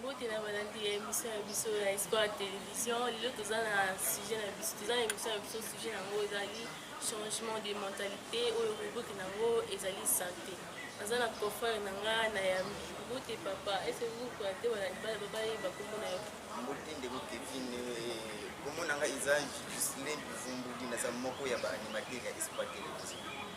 mbote na balandi ya émission ya biso ya espoir ya télévision lelo toza na sujet na biso toza na émission ya biso sujet yango ezali changement de mentalité oyo rubrike na yango ezali santé aza na confrère na nga na yambi mbote papa ese kokona te balandi bana babayeba kombo na yo mbote ndeko kevine kombo na nga eza justin bivumbudi naza moko ya baanimateur ya espoir télévision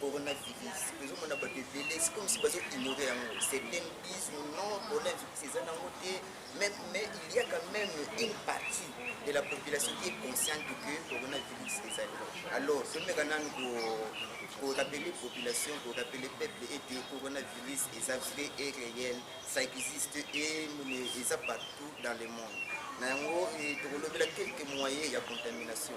coronavirus tozomona bato ebele sikomisi bazo ignore yango certaine disent non coronavirus eza nango te mais il y a quand même une partie de la population qui est consciente que coronavirus ezali alors tomeka nanu korapele population korapele peuple ete coronavirus eza vrai et réel ça existe et eza partout dans le monde na yango eh, tokolobela quelques moyens ya contamination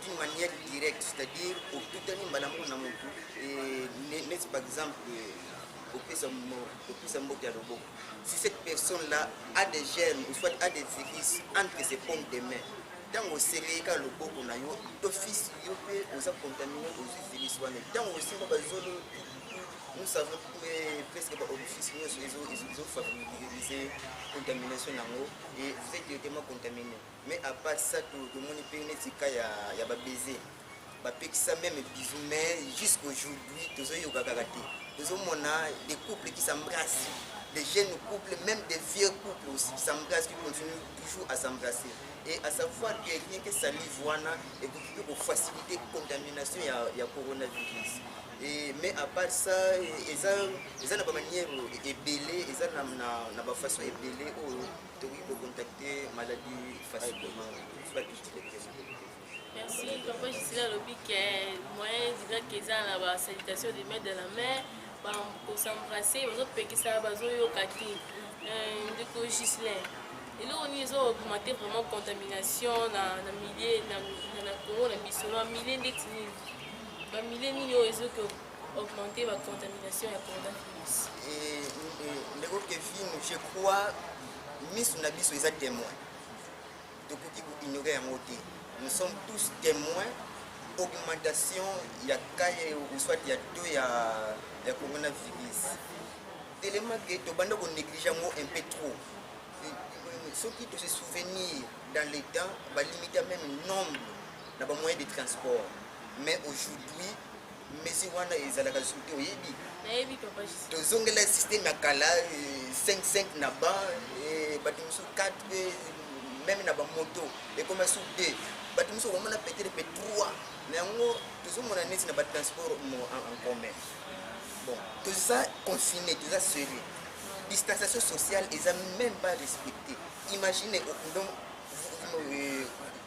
d'une manière directe c'est-à-dire otutani mbala moko na motu neti par exemple opesa mbote ya loboko si cette personne là a des germes ou soit a des virus entre ses pommes de main ntango oselei kaka loboko na yo d'office yo mpe oza contamine ozwi virus wana ntango osimba bazolo nous savons presque baoffice nyonso ezofavoriser contamination yango et vous êtes directement contaminé Mais à part ça tout tomoni pe neti ka ya ya ba baiser. Ba pekisa même bisous mais jusqu'aujourd'hui tozo yoka kaka te. Tozo mona des couples qui s'embrassent. Des jeunes couples, même des vieux couples aussi qui s'embrassent, qui continuent toujours à s'embrasser. Et à savoir que rien que salive wana et pour que pour faciliter contamination ya ya coronavirus. Et, mais à part ça eza eza na ba manière ebele eza na na, na ba façon ebele oyo tokoki kocontacte maladi facilement bakiti lectema merci papa gisela alobi ke moyen ezikaki eza na ba salutation de maître de la mer kosembrace bazopekisa bazoyoka te euh, ndeko gislain eloko nini ezo augmente vraiment contamination na milieu na congo na biso na milieu ndeti nini bamilie nini oyo ezoki augmenter ba contamination ya coronavirus ndeko kevin je crois miso na biso eza témoin tokoki koignore yango te nous sommes tous témoins augmentation ya cas soit ya to ya, ya coronavirus telema ke tobanda konéglige yango un peu trop soki tose souvenir dans le temps balimita même nombre na bamoyen de transport mais aujourd'hui Messi wana ezalaka soki te oyebi. Nayebi papa Jisi. Tozongela système ya kala 5-5 euh, na ba euh, bato mosusu 4 mpe euh, meme na bamoto ekoma su 2 bato mosusu okomona peut-être mpe 3 na yango tozomona neti na batransport en commun bon toza confiné toza serré distanciation sociale eza même pas respecté imagine donc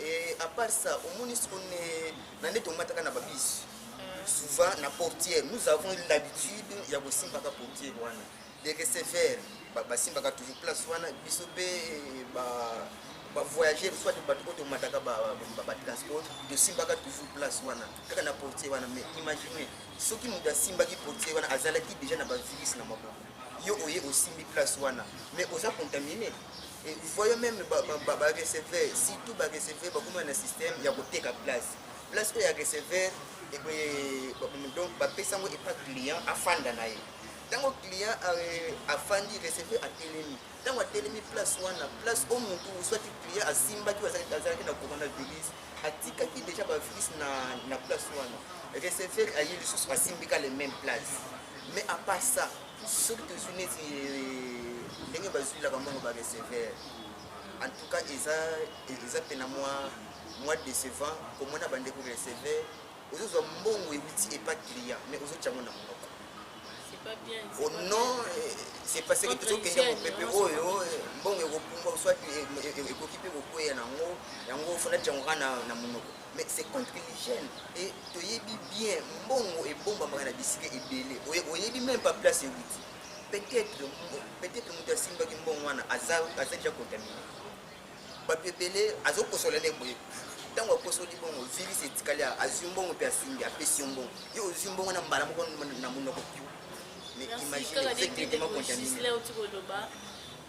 Et à part ça, au moins, on est, on est tombé dans la bise. Souvent, la portière, nous avons l'habitude, il y a aussi la portière, des receveurs, bah, simba ka toujours place, wana, biso pe, bah, bah, voyager, soit de bateau, de mataka, bah, bah, bah, transport, de simba ka toujours place, wana, kaka na portière, wana, mais imaginez, ceux qui nous da simba ki portière, wana, azala ki déjà na ba virus na maboko. yo oye osimbi place wana mais oza contamine et voyons même bareceveur surtout bareceveur bakoma na système ya koteka place place oyo ya receveur donc bapesa yango epa client afanda na ye ntango client euh, afandi receveur atelemi ntango atelemi place wana place o motu soit client asimbaki azalaki na coronavirus atikaki déjà bavirus na place wana receveur aye lisusu asimbika le même place mais à part ça soki tozwi neti euh, ndenge bazwilaka mbongo ba receveur en tout cas eza eza mpena mwa mwa décevant komona bandeko receveur ozozwa mbongo euti epa client mais ozotya yango na monoko au nom c'est parce que tozokende mopepe oyo mbongo ekopumbwa soit ekoki mpe kokweya na yango yango fona tyango kaka na monoko mais c'est contre l'hygiène et toyebi bien mbongo ebombamaka na bisika ebele oyebi même pas place ewuti peut-être peut-être moto asimbaki mbongo wana aza aza déjà contamine bato ebele azokosola nde boye ntango akosoli bongo virus etikali azwi mbongo mpe asimbi apesi yo mbongo yo ozwi mbongo na mbala moko na monoko pio mais imagine effectivement contamine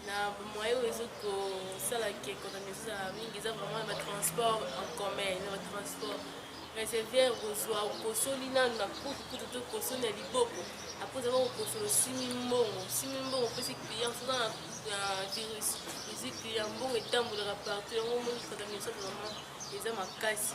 na moye oyo ezo kosala ke contamination ezala mingi eza vraiment na batransport en commun na batransport reserviere kozwa okosoli nanu na kutu kutu to kosoli na liboko apres ozaba kokosola osimi mbongo osimi mbongo opesi client soza na virus ozwi client mbongo etambolaka partout yango omoni contamination vraiment eza makasi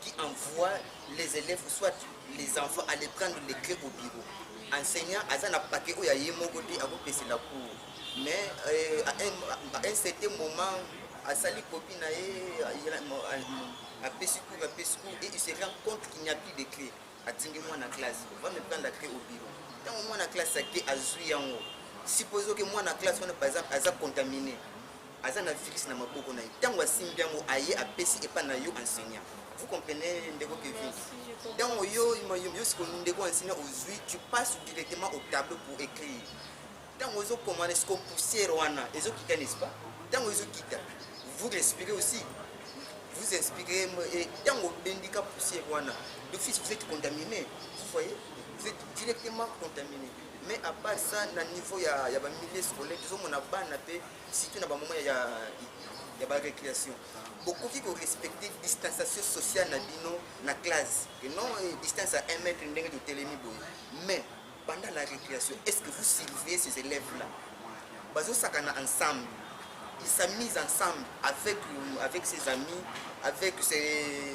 qui envoie les élèves soit les enfants aller prendre les clés au bureau enseignant aza na paquet oyo ya ye moko te akopesela cours mais euh, à, un, à un certain moment asali kopi na ye apesi cours apesi cours et il se rend compte qu'il n'y a plus de clé atindi mwana classe va me prendre la clé au bureau ntango mwana classe ake azwi yango supposé ke mwana classe wana par exemple aza contamine aza na virus na maboko na ye ntango asimbi yango aye apesi epa na yo enseignant vous comprenez ndeko kevin ntango yo yo siko ndeko enseignant ozwi tu passe directement au tableau pour écrire ntango ozokomana siko poussière wana ezokita n'est-ce pas ntango ezokita vous respirez aussi vous inspirez et ntango obendika poussière wana d'office vous êtes contaminé vous voyez vous êtes directement contaminé mais à part ça na niveau ya, ya bamilieu scolaire tozomona bana mpe surtout na ba moment ya ya ba récréation bokoki ko respecter distanciation sociale na bino na classe et non eh, distance à 1 mètre ndenge totelemi boye mais pendant la récréation est ce que vous surveillez ces élèves là bazosakana ensemble ils s'amusent ensemble avec, avec ses amis avec ses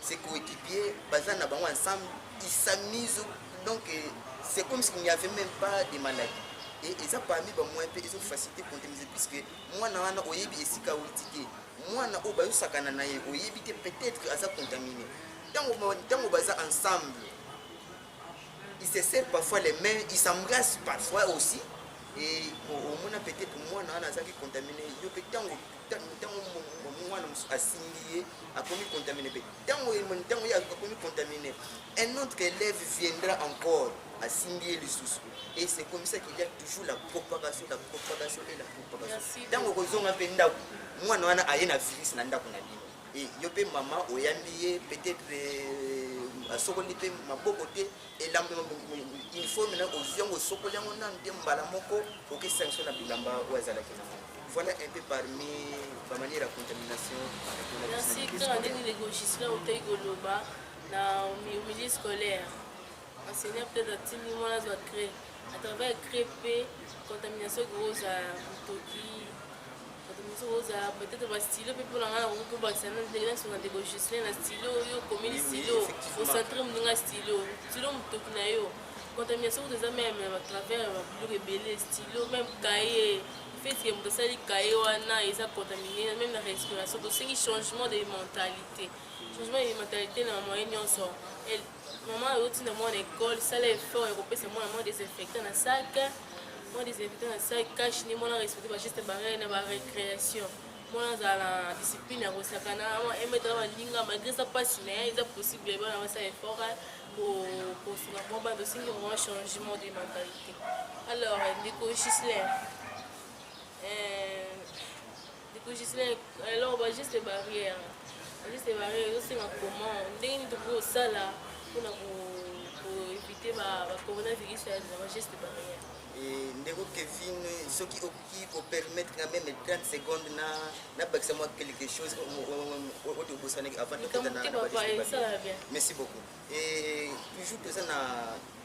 ses coéquipiers baza na bango ensemble ils s'amusent donc euh, c'est comme s'il n'y avait même pas de maladie et eza parmi bamoyen mpe ezofacilité contaminise puisque mwana wana oyebi esika awuti te mwana oyo bayosakana na ye oyebi te peut-être aza contamine ntango baza ensemble ils se serrent parfois les mains ils s'embrassent parfois aussi et omona peut-être mwana wana azalaki contamine yo mpe ntango ntango mwana mosusu asimbi ye akomi contamine mpe ntango ntango ye akomi contamine un autre élève viendra encore asimbi ye lisusu et c'est comme ça qu'il y a toujours la propagation la propagation et la propagation ntango okozonga mpe ndako mwana wana aye na virus na ndako na bino e yo mpe mama oyambi ye peut-être euh, asokoli mpe maboko te elambo ya uniforme na ozwi yango osokoli yango nanu te mbala moko okesanga so na bilamba oyo azalaki nango voilà un peu parmi bamanière ya contamination merci kaka ndenge ndeko gislin otei koloba na milieu scolaire enseigneur peut-être atindi mwana azwa cré à travers cré mpe contamination ekozala motoki bato mosusu kozala peut-être ba stylo mpe mpona ngai nakoki kobakisa na ndenge na songa ndeko justin na stylo yo okomeli stylo ocentre moninga stylo stylo motoki na yo contamination kutu eza meme na batravers ya babiloko ebele stylo meme kaye fetike moto asali kaye wana eza contamine meme na respiration tosengi changement de mentalité changement de mentalité na moyen nyonso Maman azo tinda mwana école, sala effort ya kopesa mwana mwa désinfectant na sac, mwa désinfectant na sac, cache ni mwana respecter ba gestes barrières na ba récréation. Mwana azala na discipline ya kosakana, mwa emetala baninga malgré eza mpasi na ye, eza possible bana basala effort kosunga mwa bana tosengi vraiment changement de mentalité. Alors ndeko Gislain, euh, Dikujisile alors ba juste barrière. Ba juste barrière yo singa comment ndenge ni toko sala pona ko ko éviter ba ba coronavirus ya ba juste barrière. Et ndeko Kevin soki oki ko permettre na même 30 secondes na na bakisa moi quelque chose au au au bosana avant de kota na. Merci beaucoup. Et toujours toza na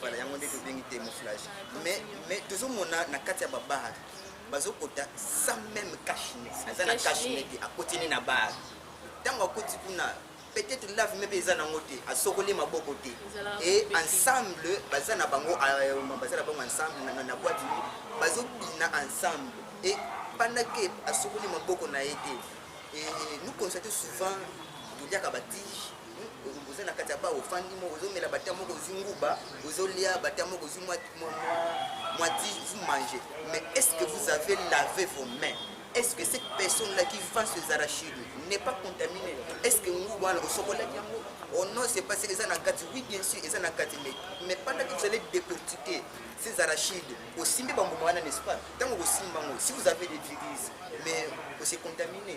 Voilà, yango nde tobengi camouflage. Mais mais tozomona na kati ya ba bar bazokota sans même cachine. Aza na cachine te, akoti ni na bar. Tango akoti kuna peut-être lave mpe eza nango te asokoli maboko te et ensemble baza na bango euh, baza na bango ensemble na boite bazobina ensemble et pendant que asokoli maboko na ye te nous constatons souvent toliaka batige oza na kati ya ba ofandi moko ozomela bata moko ozwi nguba ozolia bata moko ozwi mwa ti vous mangez mais est ce que vous avez lavé vos mains est ce que cette personne là qui vend ses arachides n'est pas contaminée est ce que nguba wana osokolaki yango oh non c'est pas eza na kati oui bien sûr eza na kati mais mais pendant que vous allez décortiquer ces arachides osimbi bambuma wana n'est ce pas ntango okosimba yango si vous avez des viruses mais ose contamine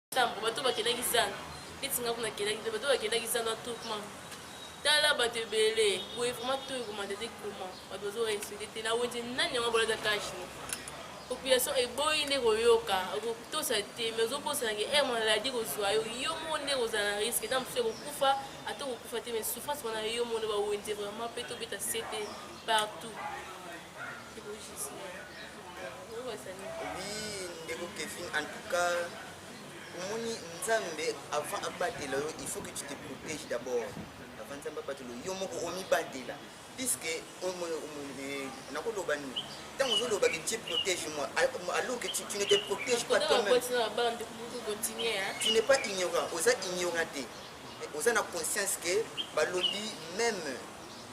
nsambo bato bakendaki zando neti nga kuna kendaki mpe bato bakendaki zando atukma tala bato ebele boye vraiment to ekomanda te koma bato bazorespekte te na wenze nani yango bolata kashi population eboyi nde koyoka okotosa te mais ozobosana ke ere maladi kozwa yo yo moko nde kozala na riske ntango mosusu ekokufa ata okokufa te mais souffrance wana yo moko nde bawenze vraiment mpe tobeta sete partout ndeko kevin en tout cas omoni nzambe avant abatela yo il faut que tu te protège d'abord avant nzambe abatela yo moko omibatela puisque eh, nakoloba nini ntango ozoloba que tu protège moi alors que tu, tu ne te protège pas toi-même tu n'es pas ignorant oza ignorant te oza na conscience que balobi même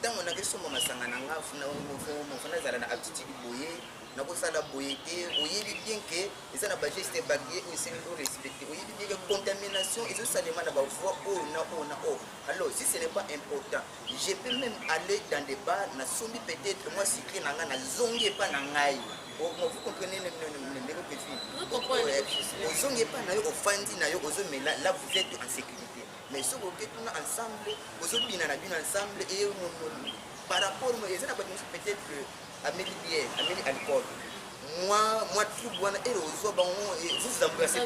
Tango na kesomba masanga na nga funa mofomo funa zala na aptitude boye na ko sala boye te oyebi bien que eza na ba geste barrière oyo esengeli o respecter oyebi bien que contamination ezo salema na ba voix oyo na oyo na oyo alors si ce n'est pas important je peux même aller dans des bars na sombi peut-être moi sucre na nga na zongi epa na ngai vous comprenez ndeko petit ozongi epa na yo ofandi na yo ozomela là vous êtes en sécurité mais soki oke kuna ensemble ozobina na bino ensemble eye mononi par rapport mo eza na bato mosusu peut-être que ameli bien ameli alcool mwa mwa trouble wana ere ozwa bango vous vous embrassez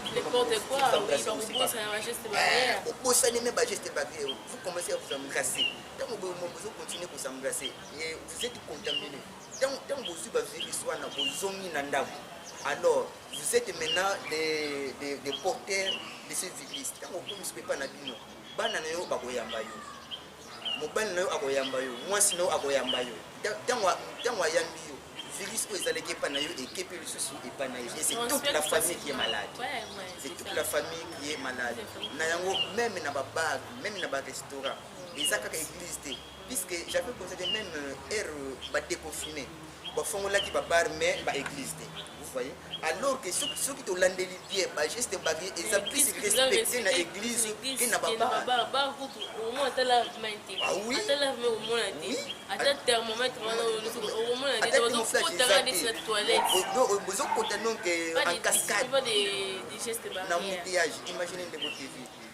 obosani me bageste barrière vous commencez à vous embrasser ntango bozo continue ko s'embrasser vous êtes contaminé ntango bozwi bavirus wana bozongi na ndako alors Vous êtes maintenant des, des, des porteurs de ces églises. Ntango okomi sikoyo epai na bino, bana na yo bakoyamba yo, mobali na yo akoyamba yo, mwasi na yo akoyamba yo. Ntango ayambi yo, virus oyo ezalaki epai na yo ekepi lisusu epai na ye. Et c'est toute la famille qui est malade. C'est toute la famille qui est malade. Na yango, même na babar, même na barestaurant, eza kaka église te. puisque j'avais constaté même euh, ère euh, ba déconfiné ba fongolaki ba bar mais ba église te vous voyez alors que soki soki tolandeli bien ba geste babi eza plus respecté na église que na ba bar bar kutu omona ata lave main te ah ata lave main omona te ata thermomètre wana omona te bazokotanga ndeti na toilette bozokota donc en cascade na moutillage imagine ndeko tv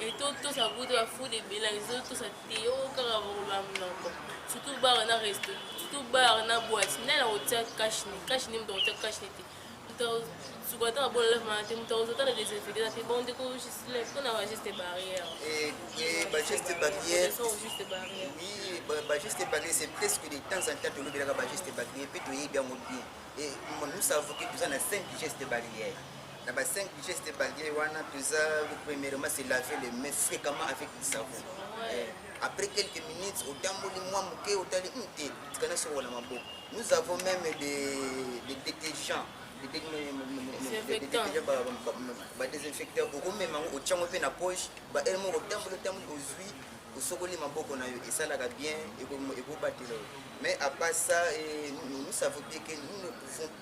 etotosa butu ya food ebela ezotosa te yo kaka boloba monoko surtout bar na resto surtout bar na boite nani akotia kashne kashne moto akotia kashne te moto suka ata babona lef mana te moto akozota na desinfecte na te bon ndeko mpona bageste barrière bageste barrière oui bageste barrière c'est presque de temps en temps tolobelaka bageste barrière mpe toyebi yango bien et nous savons que toza na 5 geste barrière na ba 5 gestes barrières wana toza premièrement se laver les mains fréquemment avec du savon eh, après quelques minutes otamboli mwa moke otali hmm, te tikana soko na maboko nous avons même des, des détergents badésinfecteur okomema yango otyango mpe na poche baele moko otamboli otamboli ozwi osokoli maboko na yo esalaka bien ekobatela yo mais apart ça eh, nous savons bien que nous ne pouvons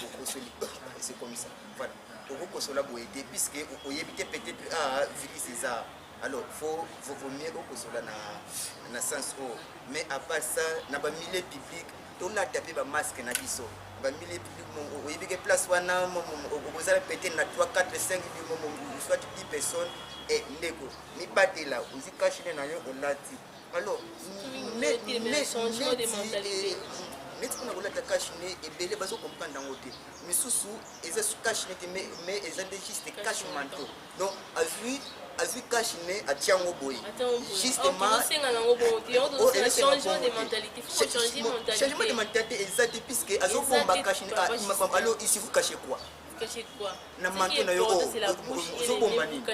bokosoli c'est comme ça voilà okokosola boye te puisque oyebi te peut-être ah virus eza alors faut vaut mieux okosola na na sens oyo mais à part ça na bamilieu public tolata mpe bamaske na biso bamilieu public oyebi ke place wana okozala peut-être na 3 4 5 soit 10 personnes e ndeko mibatela ozi kashine na yo olati alors neti mpona kolata cash ne ebele bazo comprendre yango te misusu eza cash ne te mais eza nde juste cash manto donc azwi azwi cash ne atia yango boye justemachangement de mentalité eza te puisque azobomba cash ne ah, alo isifu cache quoi na manto na yo ozobomba nini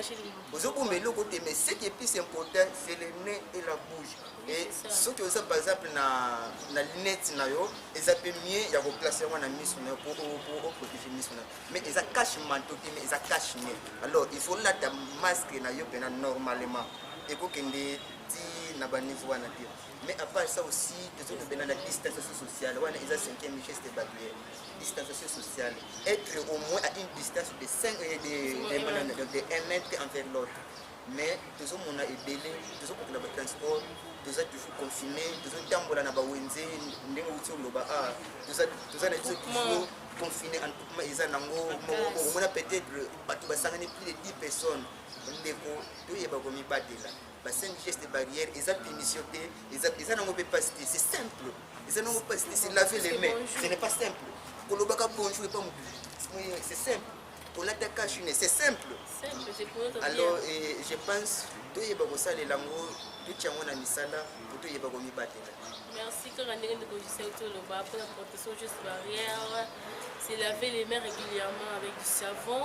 ozobomba eloko te mais ce qui est plus important c'est le nez et la bouche et soki oza par exemple na, na lunette na yo eza mpe mieux ya koplace yango na miso na yo po oprotege miso na yo mais eza cache manto te mais eza cache nez alors il faut lata masque na yo mpena normalement ekokende ti na baniveau wana te mais à part ça aussi tozokobenda na distanciation sociale wana eza cinquième geste barrière distanciation sociale, être au moins à une distance de 5 et de, de, de, de, de 1 mètre envers l'autre. Mais tous au monde est belé, tous au monde est transport, tous à toujours confiné, tous au tambola na bawenze, ndenge uti oloba ah, tous à tous à na biso toujours confiné en tout cas eza nango on a peut-être bato basangani plus de 10 personnes ndeko toyeba komibatela ba cinq gestes barrières eza punition te eza eza nango mpe pasi te c'est simple eza nango pasi te c'est laver les mains ce n'est pas simple kolobaka bonjour epa mobili c'est simple kolata cash ne c'est simple alors eh, je pense toyeba kosalela yango totya yango na misala mpo toyeba komibatela merci kaka ndenge ndeko gisel toloba mpona protection juste barrière se laver les mains régulièrement avec du savon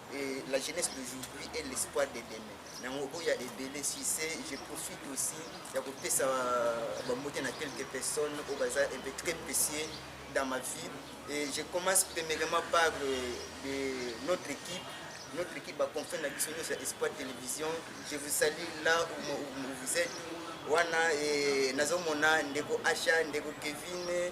Et la jeunesse d'aujourd'hui est l'espoir de demain. Nango oya ebele si c'est je profite aussi ya kopesa ba mote na quelques personnes au bazar un peu très précieux dans ma vie et je commence premièrement par euh, de notre équipe notre équipe à confin na biso nyonso ya espoir télévision je vous salue là où, où, où vous êtes wana eh, nazomona ndeko asha ndeko kevin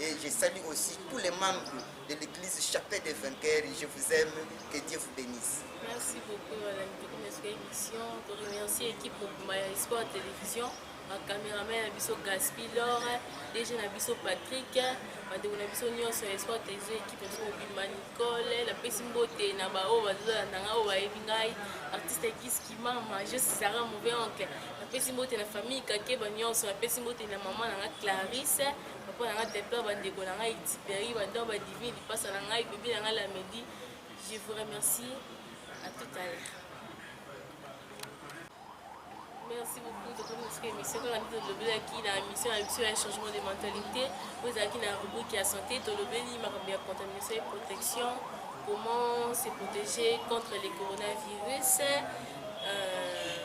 Et je salue aussi tous les membres de l'église Chapelle des Vainqueurs. Je vous aime. Que Dieu vous bénisse. Merci beaucoup, Madame Dukumesu, émission. Je remercie l'équipe Maya Sport Télévision. ma cameraman na biso gaspi lor dg na biso patrick bandeko na biso nyonso ya esport television ekipe na biso mobimba nicole napesi mbote na baoyo bazolanda ngai oyo bayebi ngai artiste kiskimama je sara mauvais oncle napesi mbote na famille kakeba nyonso napesi mbote na mama na ngai clarisse papa na ngai pepla bandeko na ngai tiperi banda badivini lipasa na ngai bebe na ngai lamedi je vous remercie à tout à l'heure merci beaucoup tokomi mosuku émission kaka nde tolobelaki na mission ya biso ya changement de mentalité oyo ezalaki na rubrique ya santé tolobeli makambo ya contamination et protection comment se protéger contre les coronavirus euh,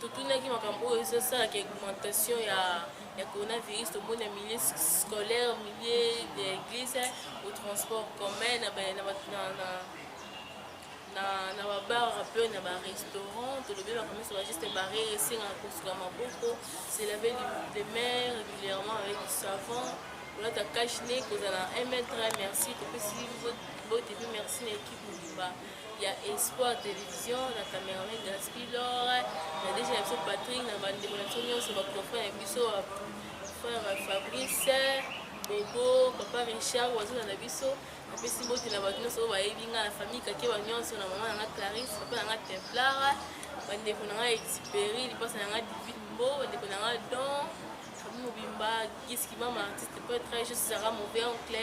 totunaki makambo oyo ezosalaka augmentation ya ya coronavirus tomoni na milieu scolaire milieu de église au transport commun na na babar mpe na barestaurant tolobi bakomisa bageste barrière esengaka kosuka maboko se lave de main régulièrement avec savon kolata cache ne kozala 1 mètre merci topesi bote mpe merci na équipe mobimba ya Espoir Television na cameraman Gaspy Lore na deja na biso Patrick na bandeko na biso nyonso baconfrère ya biso frère Fabrice Bobo papa Richard wazana na biso napesi mbote na bato nyonso oyo bayebi ngai na famille kakeba nyonso na mama na ngai Clarisse papa na ngai Templara bandeko na ngai Exupéry lipasa na ngai Divine Mbo bandeko na ngai Don famille mobimba Giski mama artiste poète très juste Sarah Mauvais Oncle